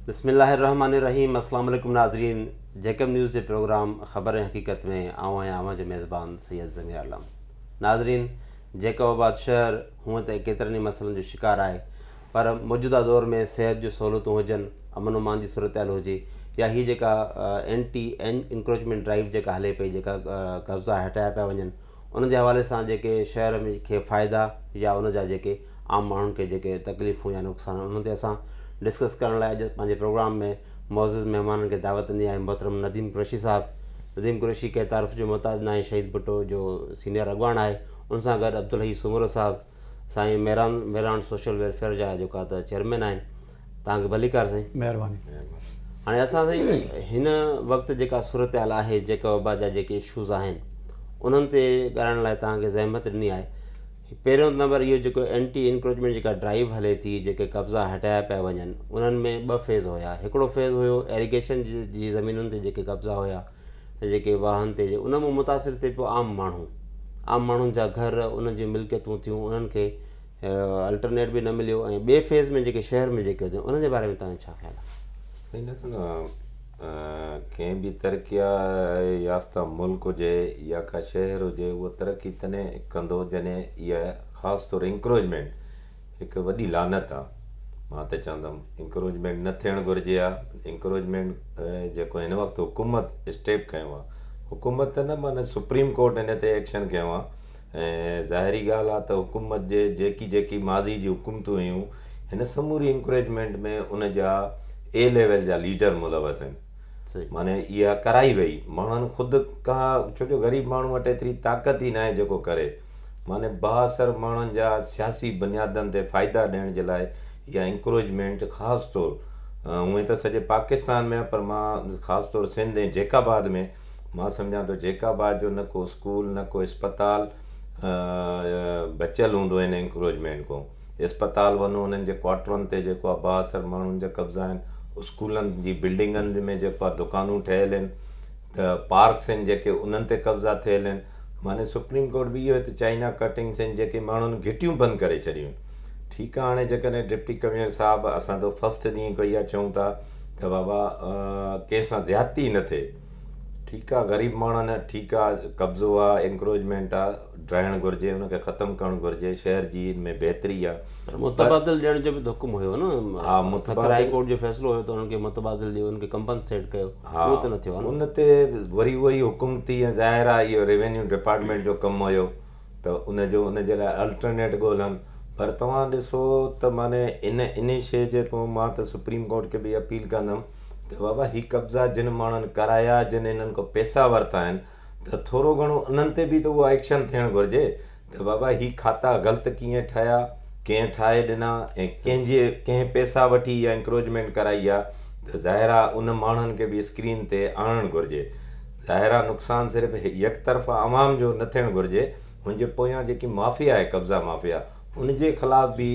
بسم الله الرحمٰن الرحيم اسلام عليڪم ناظرين جيڪب نيوز جي پروگرام خبر ۽ حقيقت ۾ آئون آهيان اوهان جو ميزبان سيد ضمير عالم ناظرين جيڪب آباد شهر هونء ته ڪيترن ئي مسئلن جو شڪار آهي پر موجوده دور ۾ صحت جون سهولتون هجن امن امان جي صورتحال هجي يا هي جيڪا اينٽي انڪروچمينٽ ڊرائيو جيڪا هلي پئي جيڪا قبضا هٽايا پيا وڃن ان جي حوالي سان جيڪي شهر ۾ کي فائدا يا ان جا جيڪي عام ماڻهن کي جيڪي تڪليفون يا نقصان آهن انهن تي اسان ڊسڪس ڪرڻ لاء اڄ پنهنجي پروگرام ۾ معزز مهمانن کي دعوت ڏني آهي محترم نديم قريشي صاحب نديم قريشي ڪنهن تعارف جو محتاج ناهي شهيد ڀٽو جو سينيئر اڳواڻ آهي ان سان گڏ عبدالحي سومرو صاحب سائين ميران ميران سوشل ويلفيئر جا جيڪا ته چيئرمين آهن توهانکي ڀليڪار سائين. مهرباني. هاڻي اسان سائين هن وقت جيڪا صورتحال آهي جيڪا وبا جا جيڪي اشوز آهن انهن تي ڳالهائڻ لاء توهان کي زحمت ڏني آهي پهريون نمبر اهو جيڪو اينٽي انڪروچمينٽ جيڪا ڊرائيو هلي ٿي جيڪي قبضا هٽايا پيا وڃن انهن ۾ ٻه فيز هيا هڪڙو فيز هيو ايريگيشن جي زمينن تي جيڪي قبضا هيا جيڪي واهن تي ان مان متاثر ٿي پيو عام ماڻهو عام ماڻهن جا گهر انهن جون ملڪيتون ٿيون انهن کي الٽرنيٽ به نه مليو ۽ ٻئي فيز ۾ جيڪي شهر ۾ جيڪي هجن انهن جي باري ۾ توهان جو ڇا خيال آهي؟ سائين ڏسو نه ڪنهن به ترقي يافته ملڪ هجي يا ڪا شهر هجي اهو ترقي تڏهن ڪندو جڏهن اها خاص طور انڪروجمينٽ هڪ وڏي لعنت آهي مان ته چوندم انڪروجمينٽ نه ٿيڻ گهرجي ها انڪروجمينٽ جيڪو هن وقت حڪومت اسٽيپ کنيو آهي حڪومت نه معنيٰ سپريم ڪورٽ هن تي ايڪشن کنيو آهي ۽ ظاهري ڳالهه آهي ته حڪومت جي جيڪي جيڪي ماضي جون حڪومتون هيون هن سموري انڪريجمينٽ ۾ ان جا اي ليول جا ليڊر ملوث آهن معني اها ڪرائي وئي ماڻهن خود ڪا ڇو جو غريب ماڻهو وٽ ايتري طاقت ئي ناهي جيڪو ڪري معني بااثر ماڻهن جا سياسي بنيادن تي فائدا ڏيڻ جي لاء اها انڪريجمينٽ خاص طور هونئن ته سڄي پاڪستان ۾ پر مان خاص طور سنڌ ۽ جيڪاباد ۾ مان سمجهان ٿو جيڪا به آهي جو نه ڪو اسڪول نه ڪو اسپتال بچيل هوندو هن انڪروچمينٽ کان اسپتال وڃو انهن جي ڪواٽرن تي جيڪو آهي با اثر ماڻهن جا قبضا آهن اسڪولن جي بلڊنگن ۾ جيڪو آهي دڪانون ٺهيل آهن ته پارڪس آهن جيڪي انهن تي قبضا ٿيل آهن معنی سپريم ڪورٽ به اهو هت چائنا ڪٽنگس آهن جيڪي ماڻهن گهٽيون بند ڪري ڇڏيون ٺيڪ آهي هاڻي جيڪڏهن ڊپٽي ڪمشنر صاحب اسان ته فرسٽ ڏينهن کان اها چئون ٿا ته بابا ڪنهن سان زيادتي ئي نه ٿئي. ٺيڪ آ غريب ماڻهن ٺيڪ آ قبضو آ انڪروچمينٽ آ ڊاهڻ گهرجي ان کي ختم ڪرڻ گهرجي شهر جي ان ۾ بهتري آ پر متبادل ڏيڻ جو به ته حڪم هيو نه ها متبادل هاء ڪورٽ جو فيصلو هيو ته انهن کي متبادل ڏيو انهن کي ڪمپنسيٽ ڪيو اهو ته نه ٿيو آ نه ان تي وري اهو ئي حڪم ٿي ظاهر آ اهو ريونيو ڊپارٽمينٽ جو ڪم هيو ته ان جو ان جي لاء الٽرنيٽ ڳولهن پر توهان ڏسو ته معنيٰ ان ان شيء جي پون مان ته سپريم ڪورٽ کي به اپيل ڪندم ته بابا هي قبضا جن ماڻهن ڪرايا جن انهن کان پيسا ورتا آهن ته ٿورو گهڻو انهن تي به ته اهو ايڪشن ٿيڻ گهرجي ته بابا هي کاتا غلط ڪيئن ٺاهيا ڪنهن ٺاهي ڏنا ۽ ڪنهن جي ڪنهن پيسا وٺي يا انڪروچمينٽ ڪرائي آهي ته ظاهر آهي ان ماڻهن کي به اسڪرين تي آڻڻ گهرجي. ظاهرا نقصان صرف يڪ طرفا عوام جو نه ٿيڻ گهرجي هن جي پويان جيڪي مافيا آهي قبضا مافيا ان جي خلاف به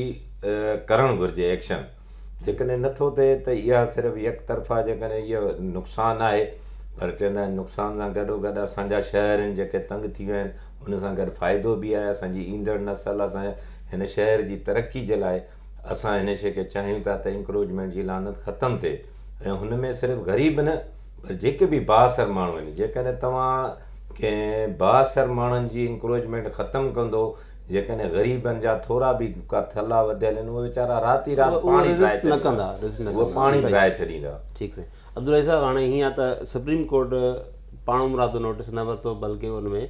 ڪرڻ گهرجي ايڪشن جيڪڏهن نه ٿو ٿئي ته اها صرف يڪ طرفا جيڪڏهن اهو نقصان آهي پر چوندا آهن نقصان سان گڏو گڏ اسان جا شهر آهن جيڪي تنگ ٿي ويا آهن ان سان گڏ فائدو به آهي اسان جي ايندڙ نسل اسان هن شهر جي ترقي جي لاء اسان هن شي کي چاهيون ٿا ته انڪروچمينٽ جي لعنت ختم ٿئي ۽ هن ۾ صرف غريب نه پر جيڪي به بااثر ماڻهو آهن جيڪڏهن توهان ڪنهن بااثر ماڻهن جي انڪروچمينٽ ختم ڪندو جيڪڏهن غريبن جا ٿورا به ڪا ٿلها وڌيل آهن اهي ويچارا رات ئي رات پاڻي رزق نه ڪندا رزق نه ڪندا پاڻي ڀرائي ڇڏيندا ٺيڪ سائين عبدالله صاحب هاڻي هيئن ته سپريم ڪورٽ پاڻمرادو نوٽيس نه ورتو بلڪه ان ۾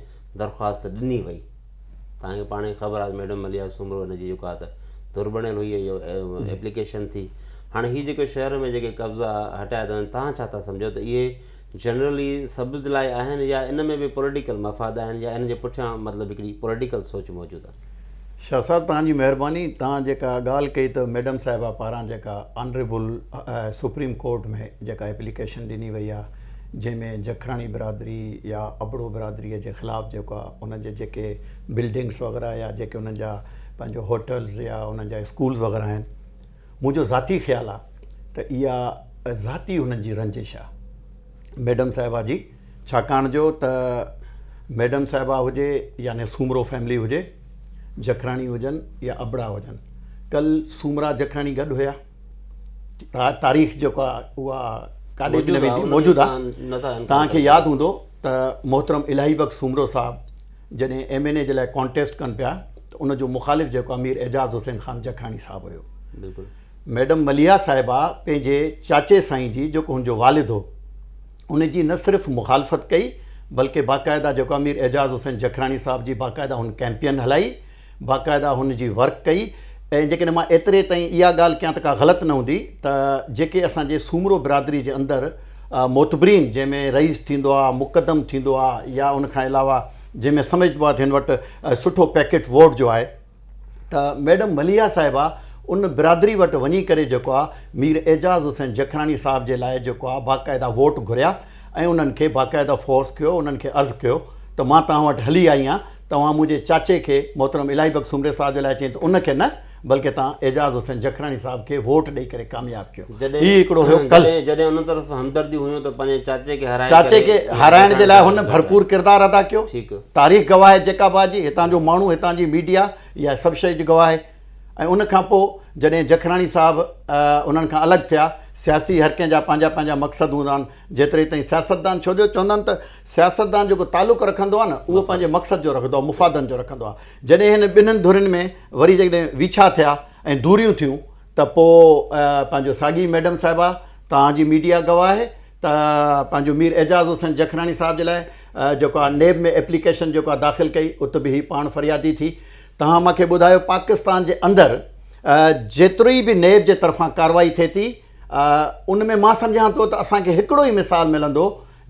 درخواست ڏني وئي توهان کي پاڻ ئي خبر آهي ميڊم مليحه سومرو هن جي جيڪو آهي ته ڌر بڻيل هئي ۽ اهو ايپليڪيشن ٿي هاڻي هي جيڪو شهر ۾ جيڪي قبضا هٽايا ٿا وڃن توهان ڇا ٿا سمجهو ته اهي جنرلي سبز لاء آهن يا ان ۾ به پوليٽيڪل مفاد آهن يا ان جي پٺيان مطلب هڪڙي پوليٽيڪل سوچ موجود آهي. شاهه صاحب توهان جي مهرباني توهان جيڪا ڳالهه ڪئي ته ميڊم صاحبه پاران جيڪا آنريبل سپريم ڪورٽ ۾ جيڪا ايپليڪيشن ڏني وئي آهي جنهن ۾ جکراڻي برادري يا ابڙو برادري جي خلاف جيڪو آهي انهن جي جيڪي بلڊنگس وغيره يا جيڪي انهن جا پنهنجو هوٽلز يا انهن جا اسڪولز وغيره آهن منهنجو ذاتي خيال آهي ته اها ذاتي انهن جي رنجش آهي ميڊم صاحبه جي ڇاڪاڻ جو ته ميڊم صاحبه هجي يعني سومرو فيملي هجي جکراڻي هجن يا ابڙا هجن ڪل سومرا جکراڻي گڏ هيا تاريخ جيڪو آهي اها ڪاڏي به نه ويندي موجود آهي توهان کي ياد هوندو ته محترم الاهي بخش سومرو صاحب جڏهن ايم اين اي جي لاء ڪانٽيسٽ ڪن پيا ته ان جو مخالف جيڪو امير اعجاز حسين خان جکراڻي صاحب هيو ميڊم مليحا صاحبه پنهنجي چاچي سائين جي جيڪو هن جو والد هو ان جي نه صرف مخالفت ڪئي بلڪه باقاعده جيڪو امير اعجاز حسين جکراڻي صاحب جي باقاعده هن ڪيمپين هلائي باقاعده هن جي ورڪ ڪئي ۽ جيڪڏهن مان ايتري تائين اها ڳالهه ڪيان ته ڪا غلط نه هوندي ته جيڪي اسان جي سومرو برادري جي اندر معتبرين جنهن ۾ رئيس ٿيندو آ مقدم ٿيندو آ يا ان کان علاوه جنهن ۾ سمجهبو آ ته هن وٽ سٺو پيڪيٽ ووٽ جو آهي ته ميڊم مليحه صاحبه ان برادري وٽ وڃي ڪري جيڪو آ مير اعجاز حسين جکراڻي صاحب جي لاء جيڪو آ باقاعده ووٽ گهريا ۽ انهن کي باقاعده فورس ڪيو انهن کي عرض ڪيو ته مان توهان وٽ هلي آئي آهيان توهان منهنجي چاچي کي محترم الاهي بخش سومري صاحب جي لاء چين ته ان کي نه بلڪه توهان اعجاز حسين جکراڻي صاحب کي ووٽ ڏئي ڪري ڪامياب ڪيو هي هڪڙو هيو ڪل جڏهن ان طرف همدرديون هيون ته پنهنجي چاچي کي هارائي ڪري چاچي کي هارائڻ جي لاء هن ڀرپور ڪردار ادا ڪيو ٺيڪ تاريخ گواهه آهي جيڪا به جي هتان جو ماڻهو هتان جي ميڊيا اها سڀ شئي جي گواهه آهي ۽ ان کان پوء جڏهن جکراڻي صاحب انهن کان الڳ ٿيا سياسي هر ڪنهن جا پنهنجا پنهنجا مقصد هوندا آهن جيتري تائين سياستدان ڇو جو چوندا آهن ته سياستدان جيڪو تعلق رکندو آهي نه اهو پنهنجي مقصد جو رکندو آهي مفادن جو رکندو آهي جڏهن هن ٻنهن ڌرين ۾ وري جيڪڏهن ويڇا ٿيا ۽ دوريون ٿيون ته پوء پنهنجو ساڳي ميڊم صاحبه توهان جي ميڊيا گواهه آهي ته پنهنجو مير اعجاز حسين جکراڻي صاحب جي لاء جيڪو آهي نيب ۾ ايپليڪيشن جيڪو آهي داخل ڪئي ات به هي پاڻ فريادي ٿي توهان مان کي ٻڌايو پاڪستان جي اندر جيتري به نيب جي طرفان ڪاروائي ٿئي ٿي ان ۾ مان سمجهان ٿو ته اسان کي هڪڙو ئي مثال ملندو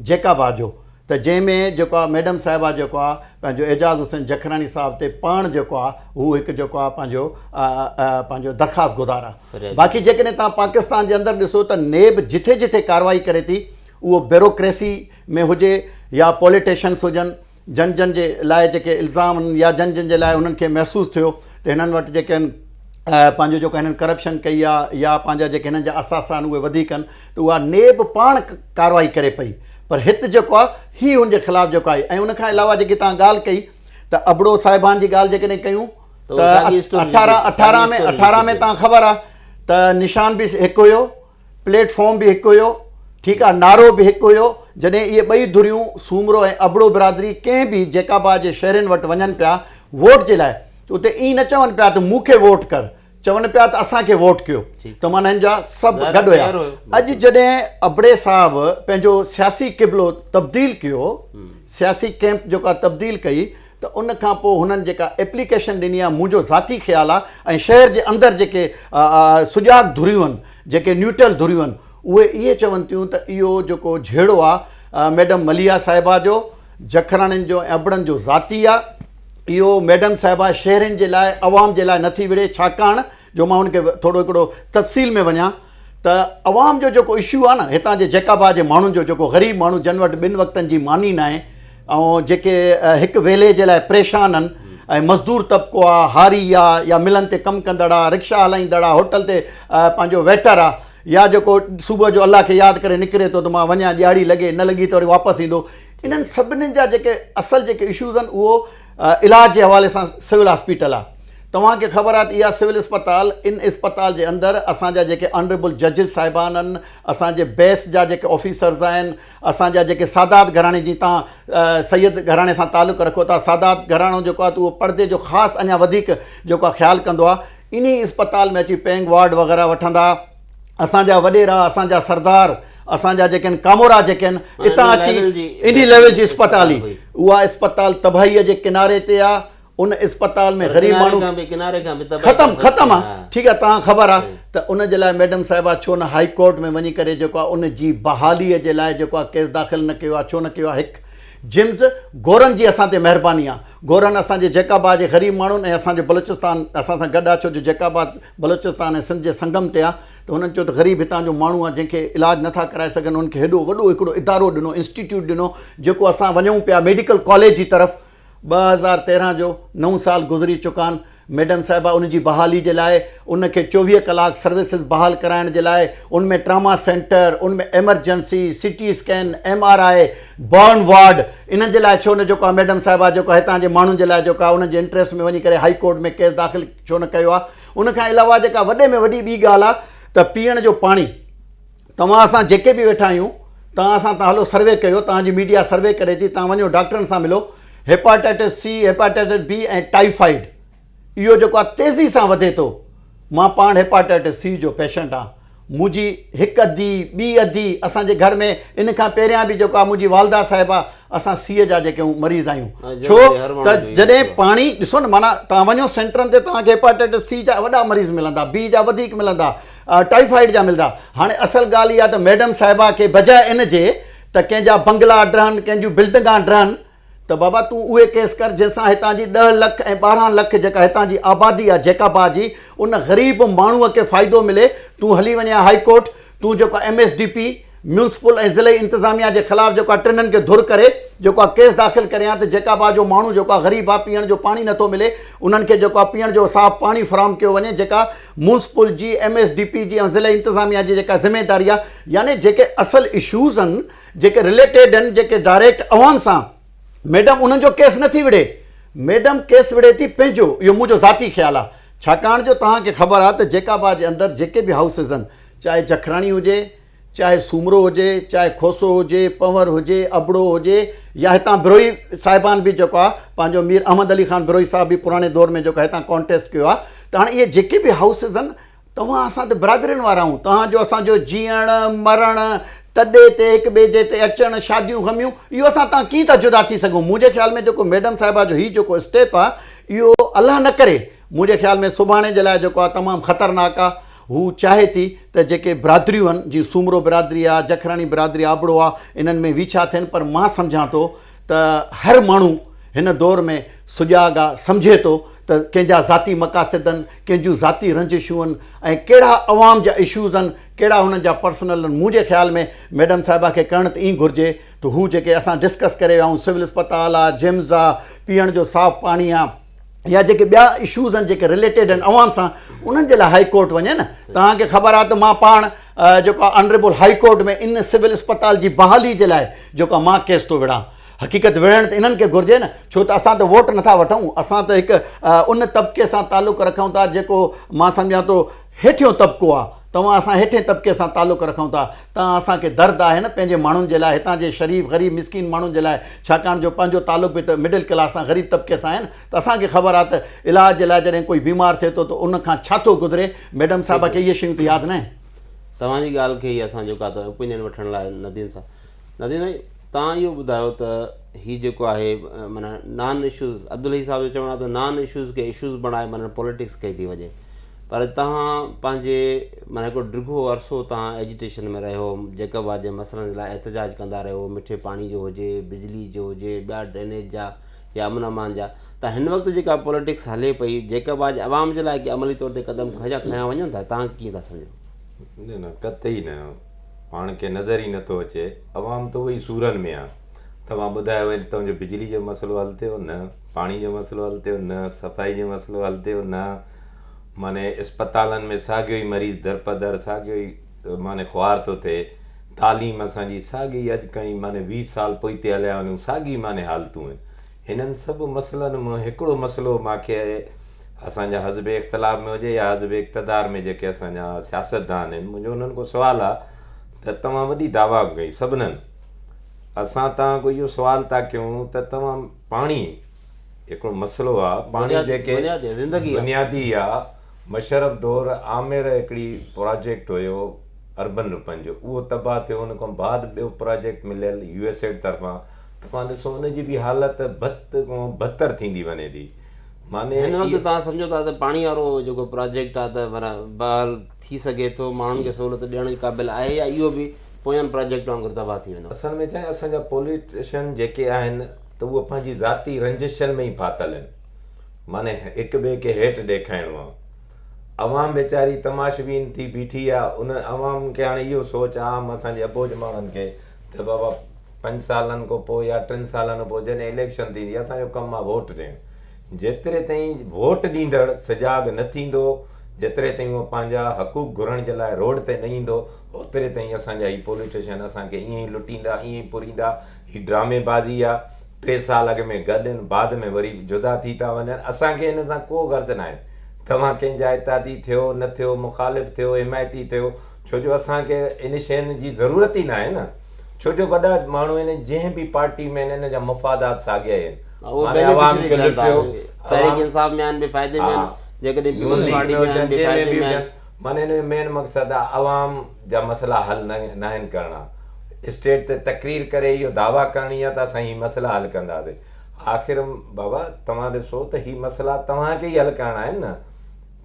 جيڪا به آجو ته جنهن ۾ جيڪو آ ميڊم صاحبه جيڪو آ پنهنجو اعجاز حسين جکراڻي صاحب تي پاڻ جيڪو آ هو هڪ جيڪو آ پنهنجو پنهنجو درخواست گذار آ باقي جيڪڏهن توهان پاڪستان جي اندر ڏسو ته نيب جٿي جٿي ڪارروائي ڪري ٿي اهو بيروڪريسي ۾ هجي يا پوليٽيشنس هجن جن جن جي لاء جيڪي الزام يا جن جن جي لاء انهن کي محسوس ٿيو ته هنن وٽ جيڪي آهن پنهنجو جيڪو هنن ڪرپشن ڪئي آ يا پنهنجا جيڪي هنن جا اثاثا آهن اهي وڌيڪ آهن ته اها نيب پاڻ ڪارروائي ڪري پئي پر هت جيڪو آ هي هن جي خلاف جيڪو آهي ۽ ان کان علاوه جيڪي توهان ڳالهه ڪئي ته ابڙو صاحبان جي ڳالهه جيڪڏهن ڪيون ته اٺارهن اٺارهن ۾ اٺارهن ۾ توهان کي خبر آ ته نشان به هڪ هيو پليٽ فارم به هڪ هيو ٺيڪ آهي نعرو به هڪ هيو جڏهن اهي ٻئي ڌريون سومرو ۽ ابڙو برادري ڪنهن به جيڪابا جي شهرين وٽ وڃن پيا ووٽ جي لاء ته اتي ائين نه چون پيا ته مون کي ووٽ ڪر چون پيا ته اسان کي ووٽ ڪيو ته معنيٰ هن جا سڀ گڏ هيا اڄ جڏهن ابڙي صاحب پنهنجو سياسي قبلو تبديل ڪيو سياسي ڪيمپ جيڪا تبديل ڪئي ته ان کان پوء هنن جيڪا ايپليڪيشن ڏني آهي منهنجو ذاتي خيال آهي ۽ شهر جي اندر جيڪي سجاڳ ڌريون آهن جيڪي نيوٽرل ڌريون آهن اهي اهي چون ٿيون ته اهو جيڪو جهيڙو آهي ميڊم مليحه صاحبه جو جکراڻين جو ۽ ابڙن جو ذاتي آهي اهو ميڊم صاحبه شهرين جي لاء عوام جي لاء نٿي وڙهي ڇاڪاڻ جو مان ان کي ٿورو هڪڙو تفصيل ۾ وڃان ته عوام جو جيڪو اشو آهي نه هتان جي جيڪابا جي ماڻهن جو جيڪو غريب ماڻهو جن وٽ ٻن وقتن جي ماني ناهي ۽ جيڪي هڪ ويلي جي لاء پريشان آهن ۽ مزدور طبقو آهي هاري آهي يا ملن تي ڪم ڪندڙ آهي رڪشا هلائيندڙ آهي هوٽل تي پنهنجو ويٽر آهي يا جيڪو صبح جو الله کي ياد ڪري نڪري ٿو ته مان وڃان ڏيهاڙي لڳي نه لڳي ته وري واپس ايندو انهن سڀني جا جيڪي اصل جيڪي اشوز آهن اهو علاج جي حوالي سان سول هاسپيٽل آ توهان کي خبر آ ته اها سول اسپتال ان اسپتال جي اندر اسان جا جيڪي آنريبل ججز صاحبان ان اسان جي بيس جا جيڪي آفيسرز آهن اسان جا جيڪي سادات گهراڻي جي تان سيد گهراڻي سان تعلق رکو ٿا سادات گهراڻو جيڪو آ ته اهو پڙدي جو خاص اڃا وڌيڪ جيڪو آ خيال ڪندو آ انهي اسپتال ۾ اچي پينگ وارڊ وغيره وٺندا اسان جا وڏيرا اسان جا سردار اسان جا جيڪي آهن ڪامورا جيڪي آهن اتان اچي انهي ليول جي اسپتال هئي اها اسپتال تباهيء جي ڪناري تي آ ان اسپتال ۾ غريب ماڻهو ختم ختم آ ٺيڪ آ توهان خبر آ ته ان جي لاء ميڊم صاحبا ڇو نه هائي ڪورٽ ۾ وڃي ڪري جيڪو آ ان جي بحاليء جي لاء جيڪو آ ڪيس داخل نه ڪيو آ ڇو نه ڪيو آ هڪ جمز گورن جي اسان تي مهرباني آ گورن اسان جي جيڪابا جي غريب ماڻهن ۽ اسان جو بلوچستان اسان سان گڏ آ ڇو جو جيڪابا بلوچستان ۽ سنڌ جي سنگم تي آ ته هنن چيو ته غريب هتان جو ماڻهو آ جنهن کي علاج نه ٿا ڪرائي سگهن انهن کي هيڏو وڏو هڪڙو ادارو ڏنو انسٽيٽيوٽ ڏنو جيڪو اسان وڃون پيا ميڊيڪل ڪاليج جي طرف ٻه هزار تيرهن جو نو سال گذري چڪان ميڊم صاحبه ان جي بحالي جي لاء ان کي چوويهه ڪلاڪ سروسز بحال ڪرائڻ جي لاء ان ۾ ٽراما سينٽر ان ۾ emergency C T scan M R I burn ward انهن جي لاء ڇو نه جيڪو آ ميڊم صاحبه جيڪو هتان جي ماڻهن جي لاء جيڪو آ انهن جي انٽريسٽ ۾ وڃي ڪري هائي ڪورٽ ۾ ڪيس داخل ڇو نه ڪيو آهي ان کان علاوه جيڪا وڏي ۾ وڏي ٻي ڳالهه آهي ته پيئڻ جو پاڻي توهان اسان جيڪي به ويٺا آهيون توهان اسان تان هلو سروي ڪيو توهان جي ميڊيا سروي ڪري ٿي توهان وڃو ڊاڪٽرن سان ملو hepatitis C hepatitis B ۽ typhoid اهو جيڪو آهي تيزي سان وڌي ٿو مان پاڻ هيپاٽائٽس سي جو پيشنٽ آهي منهنجي هڪ ادي، ٻي ادي، اسان جي گهر ۾ ان کان پهريان به جيڪو آهي منهنجي والده صاحبه اسان سيء جا جيڪي آهيون مريض آهيون ڇو ته جڏهن پاڻي ڏسو نه معنيٰ تان وڃو سينٽرن تي توهان کي هيپاٽائٽس سي جا وڏا مريض ملندا بي جا وڌيڪ ملندا ٽائيفائيڊ جا ملندا هاڻي اصل ڳالهه اها ته ميڊم صاحبه کي بجاء ان جي ته ڪنهن جا بنگلا ڊهن ڪنهن جون بلڊنگا ڊهن ته بابا تون اهي ڪيس ڪر جنهن سان هتان جي ڏهه لک ۽ ٻارهن لک جيڪا هتان جي آبادي آ جيڪابا جي ان غريب ماڻهو کي فائدو ملي تون هلي وڃي آ هائي ڪورٽ تون جيڪو آ M S D P municipal ۽ ضلعي انتظاميا جي خلاف جيڪو آ ٽنن کي ڌر ڪري جيڪو آ ڪيس داخل ڪري آ ته جيڪابا جو ماڻهو جيڪو آ غريب آ پيئڻ جو پاڻي نٿو ملي انهن کي جيڪو آ پيئڻ جو صاف پاڻي فراهم ڪيو وڃي جيڪا ميونسپل جي ايم ايس ڊي پي جي ۽ ضلعي انتظاميا جي جيڪا ذميداري آ يعني جيڪي اصل اشوز ان جيڪي رليٽيڊ آهن جيڪي ڊائريڪٽ اوهان سان ميڊم انهن جو ڪيس نه ٿي وڙهي ميڊم ڪيس وڙهي ٿي پنهنجو اهو منهنجو ذاتي خيال آهي ڇاڪاڻ جو توهان کي خبر آهي ته جيڪابا جي اندر جيڪي به هائوسز آهن چاهي جکراڻي هجي چاهي سومرو هجي چاهي کوسو هجي پنور هجي ابڙو هجي يا هتان بروهي صاحبان به جيڪو آهي پنهنجو مير احمد علي خان بروهي صاحب به پراڻي دور ۾ جيڪو هتان ڪانٽيسٽ ڪيو آهي ته هاڻي اهي جيڪي به هائوسز آهن توهان اسان تي برادرين وارا آهون، توهان جو اسان جو جيئڻ، مرڻ، تڏي تي هڪ ٻئي جي تي اچڻ، شاديون غميون، اهو اسان تان ڪيئن ٿا جدا ٿي سگهون. منهنجي خيال ۾ جيڪو ميڊم صاحبه جو هي جيڪو اسٽيپ آ اهو الله نه ڪري منهنجي خيال ۾ سڀاڻي جي لاء جيڪو آ تمام خطرناڪ آ. هو چاهي ٿي ته جيڪي برادريون آهن جيئن سومرو برادري آ، جکراڻي برادري آبڙو آ انهن ۾ ويڇا ٿين پر مان سمجهان ٿو ته هر ماڻهو هن دور ۾ سجاڳ آ، سمجهي ٿو ته ڪنهن جا ذاتي مقاصد ان، ڪنهن جون ذاتي رنجشون ان ۽ ڪهڙا عوام جا اشوز ان، ڪهڙا هنن جا پرسنل ان، منهنجي خيال ۾ ميڊم صاحبه کي ڪرڻ ته ائين گهرجي ته هو جيڪي اسان ڊسڪس ڪري ويا آهيون سول اسپتال آ، جمز آ، پيئڻ جو صاف پاڻي آ، يا جيڪي ٻيا اشوز آهن جيڪي رليٽيڊ آهن عوام سان انهن جي لاء هاء ڪورٽ وڃي نه توهان کي خبر آهي ته مان پاڻ جيڪو آهي آنريبل هاء ڪورٽ ۾ ان سول اسپتال جي بحالي جي لاء جيڪو آهي مان ڪيس ٿو وڙهان حقيقت وڙهڻ ته انهن کي گهرجي نه ڇو ته اسان ته ووٽ نٿا وٺون اسان ته هڪ ان طبقي سان تعلق رکون ٿا جيڪو مان سمجهان ٿو هيٺيون طبقو آهي توهان اسان هيٺين طبقي سان تعلق رکون ٿا تان اسان کي درد آهي نه پنهنجي ماڻهن جي لاء هتان جي شريف غريب مسڪين ماڻهن جي لاء ڇاڪاڻ جو پنهنجو تعلق به ته مڊل ڪلاس سان غريب طبقي سان آهي نه ته اسان کي خبر آهي ته علاج جي لاء جڏهن ڪوئي بيمار ٿئي ٿو ته ان کان ڇا ٿو گذري ميڊم صاحبه کي اهي شيون ته ياد نه آهن. توهان جي ڳالهه کي ئي اسان جو ڪا ته اوپينين وٺڻ لاء نديم صاحب. نادين سائين تان اهو ٻڌايو ته هي جيڪو آهي معنيٰ نان اشوز عبدالحي صاحب جو چوڻ آهي ته نان اشوز کي اشوز بڻائي معنيٰ پوليٽڪس ڪئي ٿي وڃي پر تهان پنهنجي معنيٰ هڪڙو ڊگهو عرصو تهان ايجيٽيشن ۾ رهيو جيڪب آباد جي مسئلن جي لاء احتجاج ڪندا رهيو مٺي پاڻي جو هجي بجلي جو هجي ٻيا ڊرينيج جا يا امن امان جا ته هن وقت جيڪا پوليٽڪس هلي پئي جيڪب آباد جي عوام جي لاء عملي طور تي قدم کنيا کنيا وڃن ٿا تهان ڪيئن ٿا سمجهو نه نه قطعي نه پاڻ کي نظر ئي نٿو اچي عوام ته اهي سورن ۾ آهي توهان ٻڌايو هي توهان جو بجلي جو مسئلو حل ٿيو نه پاڻي جو مسئلو حل ٿيو نه صفائي جو مسئلو حل ٿيو نه معنی اسپتالن ۾ ساڳيو ئي مريض در پدر ساڳيو ئي معنی خوار ٿو ٿئي تعليم اسانجي ساڳي اڄ کان ئي معنی ويهه سال پوئتي هليا وڃون ساڳي معنی حالتون آهن هنن سڀ مسئلن مان هڪڙو مسئلو مان کي اسان جا حزب اختلاف ۾ هجي يا حزب اقتدار ۾ جيڪي اسان جا سياستدان آهن منهنجو انهن کان سوال آ ته توهان وڏي دعويٰ ڪيون سڀنن اسان توهان کان اهو سوال ٿا ڪيون ته توهان پاڻي هڪڙو مسئلو آ پاڻي جيڪي بنيادي آ مشرف دور آمير هڪڙي پراجيڪٽ هيو اربن رپن جو اهو تباهه ٿيو ان کان بعد ٻيو پراجيڪٽ مليل يو ايس ايڊ طرفان توهان ڏسو ان جي به حالت بت کان بھتر ٿيندي وڃي ٿي معني هن وقت توهان سمجهو ٿا ته پاڻي وارو جيڪو پراجيڪٽ آهي ته پر بحال ٿي سگهي ٿو ماڻهن کي سهولت ڏيڻ جي قابل آهي يا اهو به پوين پراجيڪٽ وانگر تباهه ٿي ويندو اصل ۾ چاهي اسان جا پوليٽيشن جيڪي آهن ته اهو پنهنجي ذاتي رنجشن ۾ ئي ڦاٿل آهن معني هڪ ٻئي کي هيٽ ڏيکائڻو آهي عوام ويچاري تماشبين ٿي بيٺي آهي ان عوام کي هاڻي اهو سوچ عام اسان جي اٻوجهه ماڻهن کي ته بابا پنج سالن کان پوء يا ٽن سالن کان پوء جڏهن اليڪشن ٿيندي اسان جو ڪم آهي ووٽ ڏيڻ جيتري تائين ووٽ ڏيندڙ سجاڳ نه ٿيندو جيتري تائين هو پنهنجا حقوق گهرڻ جي لاء روڊ تي نه ايندو اوتري تائين اسان جا هي پوليٽيشن اسان کي ائين ئي لٽيندا ائين ئي پوريندا هي ڊرامي بازي آهي ٽي سال اڳ ۾ گڏ آهن بعد ۾ وري جدا ٿي ٿا وڃن اسان کي ان سان ڪو غرض ناهي توهان ڪنهن جا اتحادي ٿيو نه ٿيو مخالف ٿيو حمايتي ٿيو ڇو جو اسان کي ان شين جي ضرورت ئي ناهي نه ڇو جو وڏا ماڻهو آهن جنهن به پارٽي ۾ آهن ان جا مفادات ساڳيا ئي آهن معنيٰ عوام کي لٽيو تحريڪ انصاف ۾ آهن بي فائدي ۾ آهن جيڪڏهن پيپلز پارٽي ۾ آهن بي فائدي ۾ آهن معنيٰ ان جو مين مقصد آهي عوام جا مسئلا حل ناهن ڪرڻا اسٽيج تي تقرير ڪري اهو دعويٰ ڪرڻي آهي ته اسان هي مسئلا حل ڪنداسين آخر بابا توهان ڏسو ته هي مسئلا توهان کي ئي حل ڪرڻا آهن نه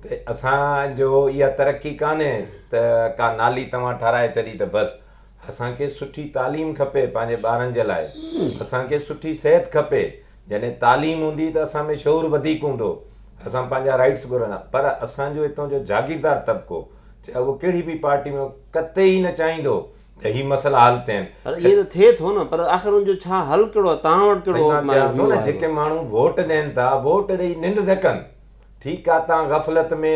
ته اسان جو اها ترقي ڪانهي ته ڪا نالي توهان ٺاهرائي ڇڏي ته بس. اسان کي سٺي تعليم کپي پنهنجي ٻارن جي لاء. اسان کي سٺي صحت کپي. جڏهن تعليم هوندي ته اسان ۾ شعور وڌيڪ هوندو. اسان پنهنجا رائيٽس گهرندا. پر اسان جو هتان جو جاگيردار طبقو چاهي اهو ڪهڙي به پارٽي ۾ هو قطعي نه چاهيندو ته هي مسئلا حل ٿين. پر ائين ته ٿئي ٿو نه پر آخر ان جو ڇا حل ڪهڙو آهي توهان وٽ ڪهڙو مايو ويو آهي. سائين مان چيان ٿو نه جيڪي ماڻهو ووٽ ڏين ٿا ووٽ ڏئي ننڊ نه ڪن. ٺيڪ آ تان غفلت ۾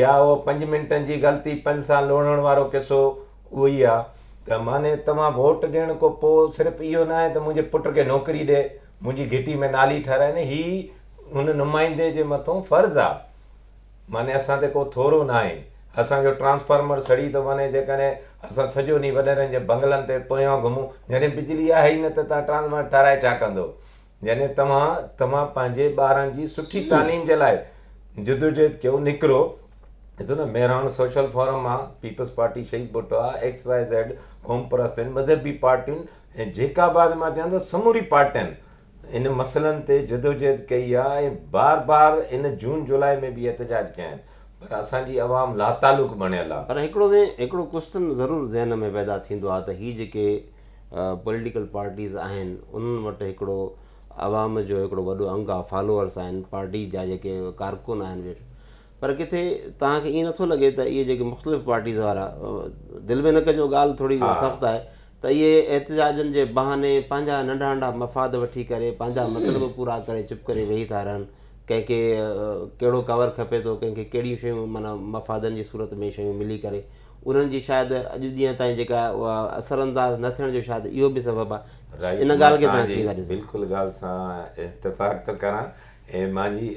يا اهو پنج منٽن جي غلطي پنج سان لوڙهڻ وارو قصو اهو ئي آ ته معني توهان ووٽ ڏيڻ کون پو صرف اهو ناهي ته منهنجي پٽ کي نوڪري ڏي منهنجي گهٽي ۾ نالي ٺهرائي نه هي هن نمائندي جي مٿون فرض آ معني اسان تي ڪو ٿورو ناهي اسان جو ٽرانسفارمر سڙي ٿو وڃي جيڪڏهن اسان سڄو ڏينهن وڏيرن جي بنگلن تي پويان گهمون جڏهن بجلي آهي ئي نه ته تان ٽرانسفارمر ٺهرائي ڇا ڪندو يعني توهان توهان پنهنجي ٻارن جي سٺي تعليم جي لاء جدوجهد ڪيو نڪرو ڏسو نه مهراڻ سوشل فورم آ پيپلز پارٽي شهيد ڀٽو آ ايڪس واء زيڊ قوم پرست آهن مذهبي پارٽيون ۽ جيڪا بعد مان چوان ٿو سموري پارٽين ان مسئلن تي جدوجهد ڪئي آ ۽ بار بار ان جون جولاء ۾ به احتجاج ڪيا آهن پر اسان جي عوام لاتعلق بڻيل آ. پر هڪڙو هڪڙو ڪوسچن ضرور ذهن ۾ پيدا ٿيندو آ ته هي جيڪي پوليٽيڪل پارٽيز آهن انهن وٽ هڪڙو عوام جو هڪڙو وڏو انگ آهي فالوورس آهن پارٽي جا جيڪي ڪارڪن آهن ويٺ پر ڪٿي توهان کي ائين نٿو لڳي ته اهي جيڪي مختلف پارٽيز وارا دل ۾ نه ڪجو ڳالهه ٿوري سخت آهي ته اهي احتجاجن جي بهاني پنهنجا ننڍا ننڍا مفاد وٺي ڪري پنهنجا مطلب پورا ڪري چپ ڪري ويهي ٿا رهن ڪنهن کي ڪهڙو ڪور کپي ٿو ڪنهن کي ڪهڙيون شيون معنيٰ مفادن جي صورت ۾ شيون ملي ڪري انهن جي شايد اڄ ڏينهن تائين جيڪا اها اثر انداز نه ٿيڻ جو شايد اهو به سبب آهي. رائيٽ ان مان ڳالهه کي توهان تنهنجي ڪيئن ٿا ڏسو؟ بلڪل ڳالهه سان اتفاق ٿو ڪران ۽ مانجي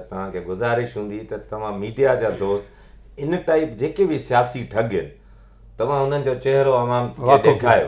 توهان کي گذارش هوندي ته توهان ميڊيا جا دوست ان ٽائيپ جيڪي به سياسي ٺڳ آهن توهان انهن جو چهرو عوام کي ڏيکايو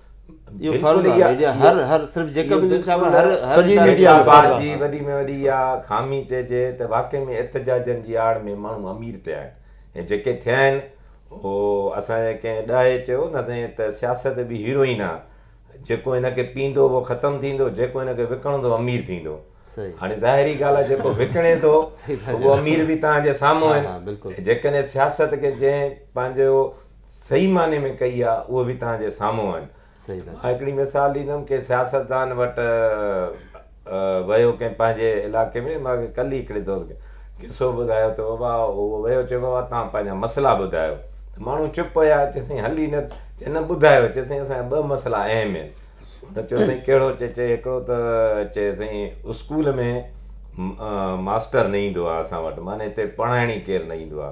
اهو فرض آهي ميڊيا هر هر صرف جيڪا به نيوز ڇاپي هر هر سڄي ميڊيا آباد جي وڏي ۾ وڏي اها خامي چئجي ته واقعي ۾ احتجاجن جي آڙ ۾ ماڻهو امير ٿيا آهن ۽ جيڪي ٿيا آهن هو اسان جي ڪنهن ڏاهي چيو نه سائين ته سياست به هيروئن آهي جيڪو هن کي پيندو اهو ختم ٿيندو جيڪو هن کي وڪڻندو امير ٿيندو هاڻي ظاهري ڳالهه آهي جيڪو وڪڻي ٿو اهو امير به تهان جي سامهون آهن جيڪڏهن سياست کي جنهن پنهنجو صحيح معني ۾ ڪئي آ اهي به توهان جي سامهون آهن مان هڪڙي مثال ڏيندم ڪنهن سياستدان وٽ ويو ڪنهن پنهنجي علائقي ۾ مان کي ڪل ئي هڪڙي دوست کي قصو ٻڌايو ته بابا اهو ويو چيو بابا توهان پنهنجا مسئلا ٻڌايو ته ماڻهو چپ هيا چي سائين هل ئي نه چي نه ٻڌايو چي سائين اسان جا ٻه مسئلا اهم آهن هن چيو سائين ڪهڙو چي چي هڪڙو ته چي سائين اسڪول ۾ ماستر نه ايندو آ اسان وٽ معني هتي پڙهائڻ ئي ڪير نه ايندو آ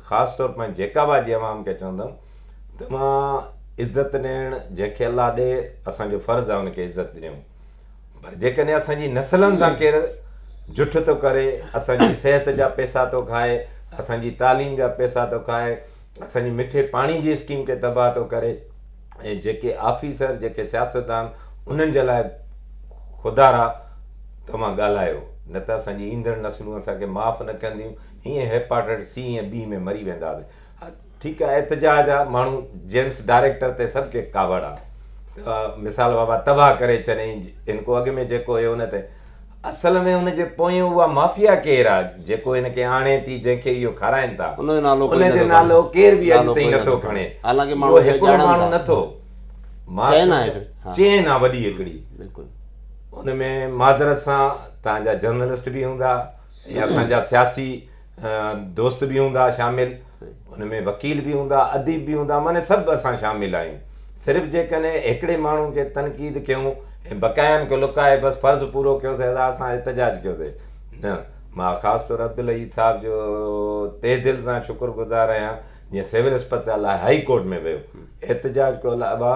خاص طور پنهنجي جيڪابا جي عوام کي چوندم توهان عزت ڏيڻ جنهن کي الله ڏي اسان جو فرض آهي ان کي عزت ڏيون پر جيڪڏهن اسان جي نسلن سان ڪير جٺ ٿو ڪري اسان جي صحت جا پيسا ٿو کائي اسان جي تعليم جا پيسا ٿو کائي اسان جي مٺي پاڻي جي اسڪيم کي تباهه ٿو ڪري ۽ جيڪي آفيسر جيڪي سياستدان انهن جي لاء خدارا توهان ڳالهايو نه ته اسان جي ايندڙ نسلون اسان کي معاف نه ڪنديون هيئن هيپاٽائٽس سي ۽ بي ۾ مري ويندا به ٺيڪ آهي احتجاج آ ماڻهو جيمس ڊائريڪٽر تي سڀ کي ڪاوڙ آ مثال بابا تباهه ڪري ڇڏين هن کو اڳ ۾ جيڪو هيو هن تي اصل ۾ هن جي پويان اها مافيا ڪير آ جيڪو هن کي آڻي ٿي جنهن کي اهو کارائين ٿا ان جو نالو ڪير به اڄ تائين نٿو کڻي حالانڪه ماڻهو هڪڙو ماڻهو نٿو چين آ هڪڙي چين آ وڏي هڪڙي بلڪل ان ۾ معذرت سان تهان جا جرنلسٽ به هوندا ۽ اسان جا سياسي دوست به هوندا شامل ان ۾ وڪيل به هوندا اديب به هوندا معني سڀ اسان شامل آهيون صرف جيڪڏهن هڪڙي ماڻهو کي تنقيد ڪيون ۽ بقايائن کي لڪائي بس فرض پورو ڪيوسي ادا اسان احتجاج ڪيوسي نه مان خاص طور عبدالعزيز صاحب جو تهه دل سان شڪر گذار آهيان جنهن سول اسپتال لاء هائي ڪورٽ ۾ ويو احتجاج ڪيو ابا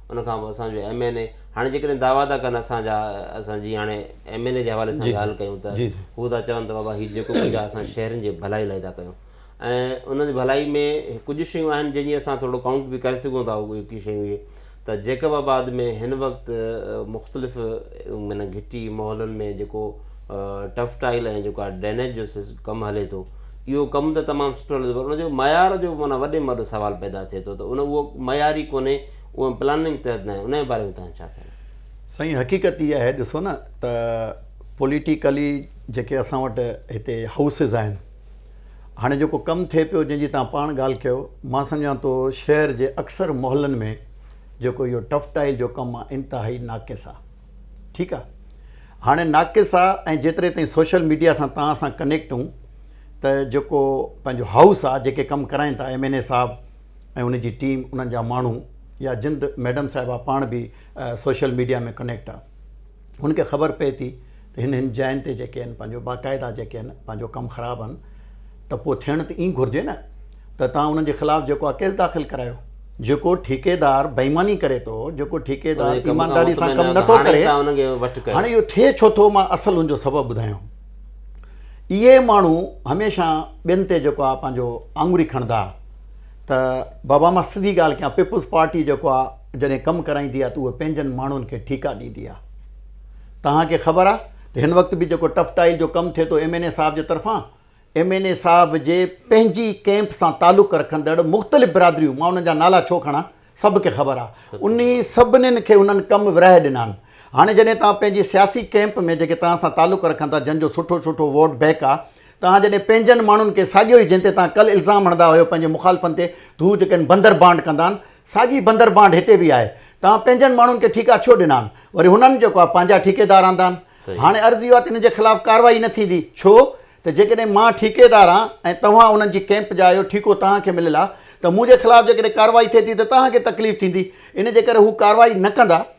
ان کان پوء اسان جو ايم اين اي هاڻي جيڪڏهن دعويٰ ٿا ڪن اسان جا اسان جي هاڻي ايم اين اي جي حوالي سان ڳالهه ڪيون ته هو ٿا چون ته بابا هي جيڪو ڪجهه اسان شهرين جي ڀلائي لاء ٿا ڪيون ۽ ان جي ڀلائي ۾ ڪجهه شيون آهن جن جي اسان ٿورو ڪائونٽ به ڪري سگهون ٿا اهي ڪي شيون اهي ته جيڪب آباد ۾ هن وقت مختلف معنيٰ گهٽي محلن ۾ جيڪو ٽف ٽائل ۽ جيڪا ڊرينيج جو ڪم هلي ٿو اهو ڪم ته تمام سٺو هلي ٿو پر ان جو معيار جو معنيٰ وڏي ۾ وڏو سوال پيدا ٿئي ٿو ته ان اهو معيار ئي ڪونهي اهو پلاننگ تحت ناهي ان جي باري ۾ توهان جو ڇا خيال آهي سائين حقيقت اها آهي ڏسو نه ته پوليٽيڪلي جيڪي اسان وٽ هتي هائوسز آهن هاڻي جيڪو ڪم ٿئي پيو جنهن جي توهان پاڻ ڳالهه ڪيو مان سمجهان ٿو شهر جي اڪثر محلن ۾ جيڪو اهو ٽف ٽائل جو ڪم آهي انتهائي ناقص آهي ٺيڪ آ هاڻي ناقص آ ۽ جيتري تائين سوشل ميڊيا سان توهان سان ڪنيڪٽ هون ته جيڪو پنهنجو هائوس آ جيڪي ڪم ڪرائين ٿا ايم اين اي صاحب ۽ ان جي ٽيم انهن جا ماڻهو يا جند ميڊم صاحبه پاڻ به سوشل ميڊيا ۾ ڪنيڪٽ آ هن کي خبر پئي ٿي ته هن هن جاين تي جيڪي آهن پنهنجو باقاعده جيڪي آهن پنهنجو ڪم خراب آهن ته پوء ٿيڻ ته ائين گهرجي نه ته توهان انهن جي خلاف جيڪو آهي ڪيس داخل ڪرايو. جيڪو ٺيڪيدار بيماني ڪري ٿو، جيڪو ٺيڪيدار ايمانداري سان ڪم نه ٿو ڪري، هاڻي اهو ٿئي ڇو ٿو مان اصل ان جو سبب ٻڌايان. اهي ماڻهو هميشه ٻين تي جيڪو آهي پنهنجو آڱري کڻندا ته بابا مان سڌي ڳالهه ڪيان پيپلز پارٽي جيڪو آهي جڏهن ڪم ڪرائيندي آهي ته اهي پنهنجن ماڻهن کي ٺيڪا ڏيندي آهي. توهان کي خبر آهي ته هن وقت به جيڪو ٽف ٽائيل جو ڪم ٿئي ٿو ايم اين اي صاحب جي طرفان ايم اين اي صاحب جي پنهنجي ڪئمپ سان تعلق رکندڙ مختلف برادريون مان انهن جا نالا ڇو کڻان سڀ کي خبر آ انهي سڀنين کي انهن ڪم ورهائي ڏنا آهن هاڻي جڏهن توهان پنهنجي سياسي ڪئمپ ۾ جيڪي توهان سان تعلق رکن ٿا جن جو سٺو سٺو ووٽ بئڪ آ توهان جڏهن پنهنجن ماڻهن کي ساڳيو ئي جنهن تي توهان ڪل الزام هڻندا هيو پنهنجي مخالفن تي ته هو جيڪي آهن بندر بانڊ ڪندا آهن ساڳي بندر بانڊ هتي به آهي. توهان پنهنجن ماڻهن کي ٺيڪا ڇو ڏنا آهن؟ وري هنن جيڪو آهي پنهنجا ٺيڪيدار آندا آهن. هاڻي عرض اهو آهي ته هنن جي خلاف ڪارروائي نه ٿيندي. ڇو ته جيڪڏهن مان ٺيڪيدار آهيان ۽ توهان انهن جي ڪئمپ جا آهيو، ٺيڪو توهان کي مليل آهي ته منهنجي خلاف جيڪڏهن ڪارروائي ٿئي ٿي ته توهان کي تڪليف ٿيندي. ان جي ڪري هو ڪارروائي نه ڪندا.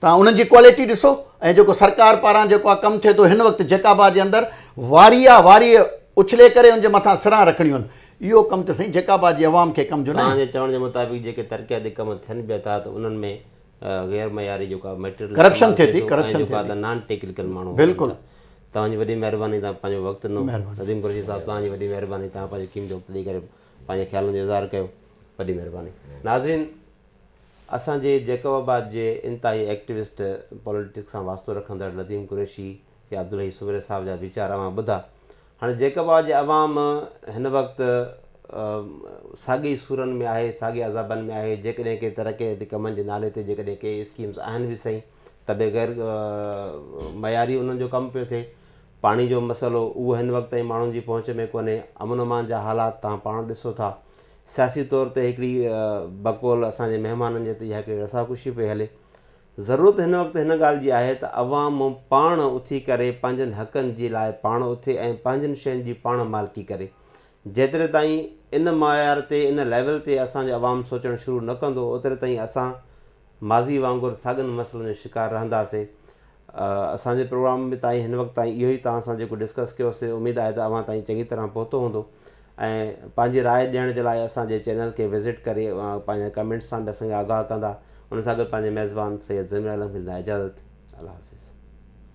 توهان انهن جي ڪوالٽي ڏسو ۽ جيڪو سرڪار پاران جيڪو آ ڪم ٿئي ٿو هن وقت جيڪا به آ جي اندر واري آ واري اڇلي ڪري ان جي مٿان سران رکڻيون آهن اهو ڪم ته سائين جيڪا به آ جي عوام کي ڪم جو ناهي. توهان جي چوڻ جي مطابق جيڪي ترقياتي ڪم ٿين پيا ٿا ته انهن ۾ غير معياري جيڪو آ ميٽريل ڪرپشن ٿئي ٿي ڪرپشن ٿئي ٿي ۽ جيڪو آ نان ٽيڪنيڪل ماڻهو هجن ٿا توهان جي وڏي مهرباني توهان پنهنجو وقت ڏنو نديم قريشي صاحب توهان جي وڏي مهرباني توهان پنهنجو قيمتي وقت ڏئي ڪري پنهنجي خيالن جو اظهار ڪيو وڏي مهرباني ناظرين اسان جي جيڪب آباد جي انتهائي ايڪٽيوسٽ پوليٽڪس سان واسطو رکندڙ نديم قريشي يا عبدالحئي سومري صاحب جا ويچار اوهان ٻڌا. هاڻي جيڪب آباد جي عوام هن وقت ساڳي ئي سورن ۾ آهي، ساڳي عذابن ۾ آهي، جيڪڏهن ڪي ترقياتي ڪمن جي نالي تي جيڪڏهن ڪي اسڪيمز آهن به سهي ته به غير معياري انهن جو ڪم پيو ٿئي. پاڻي جو مسئلو اهو هن وقت تائين ماڻهن جي پهچ ۾ ڪونهي. امن امان جا حالات توهان پاڻ ڏسو ٿا سياسي طور تي هڪڙي بقول اسان جي مهمانن جي تي اها هڪڙي رساڪشي پئي هلي. ضرورت هن وقت هن ڳالهه جي آهي ته عوام پاڻ اٿي ڪري پنهنجن حقن جي لاء پاڻ اٿي ۽ پنهنجن شين جي پاڻ مالڪي ڪري. جيتري تائين ان معيار تي ان ليول تي اسان جو عوام سوچڻ شروع نه ڪندو اوتري تائين اسان ماضي وانگر ساڳن مسئلن جو شڪار رهنداسين اسان جي پروگرام ۾ تائين هن وقت تائين اهو ئي توهان سان جيڪو ڊسڪس ڪيو سي اميد آهي ته اوهان تائين چڱي طرح پهتو هوندو ۽ پنهنجي راء ڏيڻ جي لاء اسان جي چينل کي وزٽ ڪري اوهان پنهنجا ڪمينٽس سان به اسان کي آگاهه ڪندا ان سان گڏ پنهنجي ميزبان سيد ضمير عالم کي ڏيندا اجازت الله حافظ.